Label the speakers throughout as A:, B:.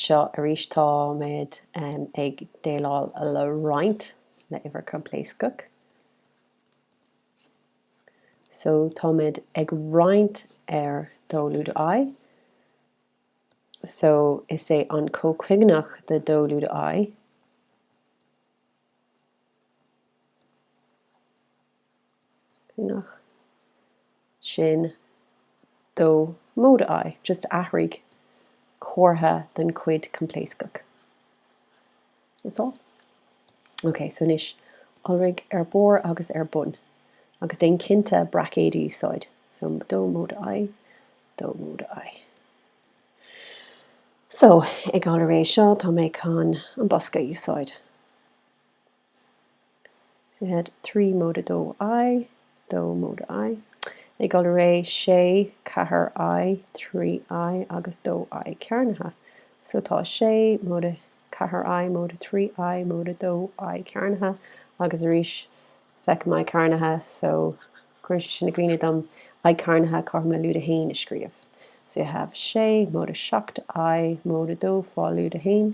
A: seo arís táimid ag déileáil le roinnt, le uimhir choimpléascach. So táimid ag roinnt ar dó lúide I. So is é an comhchuingeach de dó lúide I, nach, sin dó móide I, just athraigh comhartha den chuid coimpléascach. That's all. OK, so anois, iolraigh ar barr agus ar bun, agus déan cinnte braicéid a úsáid, so dó móide I, dó móide I. So, ag iolrú é seo, tá mé chun an bosca a úsáid. So we had trí móide dó I, dó móide I, ag iolrú é, sé, ceathair I, trí I, agus dó I cearnaithe. So tá sé móide ceathair I móide trí I móide dó I cearnaithe, agus arís feicim I cearnaithe, so cuireann sé sin i gcuimhne dom I cearnaithe, caithfidh mé lúide a haon a scríobh. So you have sé móide seacht I móide dó fá lúide a haon.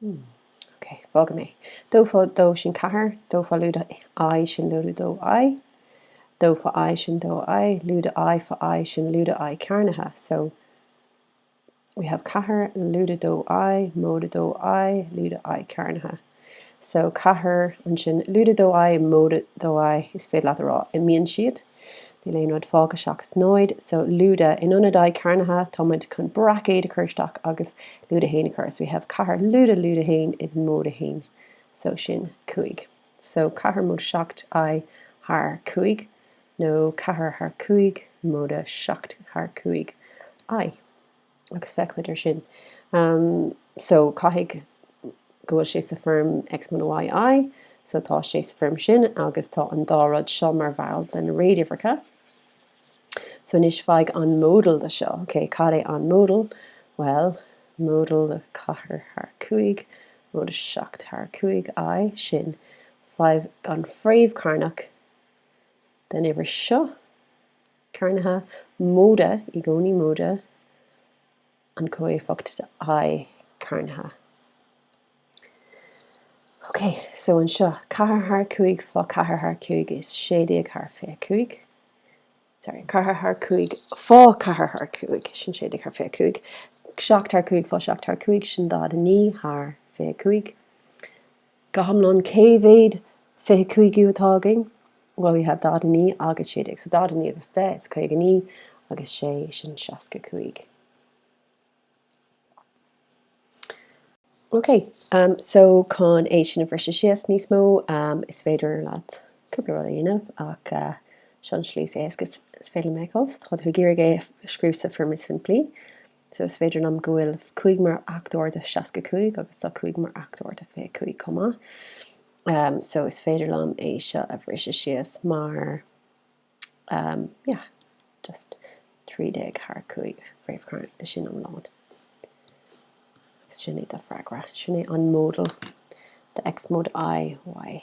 A: Hmm. Ok. Fágfaidh mé. Dó fá dó sin ceathair. Dó fá lúide i sin lúide dó i. Dó fá i sin dó i. Lúide i fá i sin lúide i cearnaithe. So we have ceathair lúide dó i, móide dó i, lúide i cearnaithe. So ceathair ansin lúide dó i, móide dó i, is féidir leat a rá, imíonn siad. Níl aon rud fágtha seachas náid, so lúide. In ionad I cearnaithe, tá muid chun braicéad a chur isteach agus lúide a haon a chur. So we have ceathair lúide, lúide a haon is móide a haon, so sin cúig. So ceathair móide seacht I thar cúig, nó ceathair thar cúig móide seacht thar cúig I. agus feicfidh muid ansin. So, caithfidh go bhfuil sé sa foirm X móide Y, I. So, tá sé sa foirm sin agus tá an dá rud seo mar bhall de na réaduimhreacha. So, anois faigh an modal de seo. OK, cad é an modal? Bhuel, modal de 4 thar 5, móide 7 thar 5, I, sin faigh an fhréamh chearnach den uimhir seo. cearnaithe, móide i gcónaí, móide an comhéifeacht de I cearnaithe. OK, so anseo, ceathair thar cúig fá ceathair thar cúig is sé déag thar fiche cúig, sorry, ceathair thar cúig fá ceathair thar cúig sin sé déag thar fiche cúig, seacht thar cúig fá seacht thar cúig sin daichead a naoi thar fiche cúig. Go hiomlán, cé mhéad fiche cúigiú atá againn? Bhuel, tá daichead a naoi agus sé déag, so daichead a naoi agus deich is caoga a naoi agus sé sin seasca cúig. Ok, so chun é sin a bhriseadh síos níos mó, is féidir leat cúpla rud a dhéanamh ach seo an slí is éasca is féidir liom a fheiceáil. So tá tú ag iarraidh é a scríobh sa foirm is simplí. So is féidir liom go bhfuil cúig mar fhachtóir de seasca cúig agus tá cúig mar fhachtóir de fiche cúig chomh maith. Um, so is féidir liom é seo a bhriseadh síos mar, um, yeah, just 13 thar 5 fréamh chearnach de sin iomlán. Sin é do freagra. Sin é an modal de x mod i y.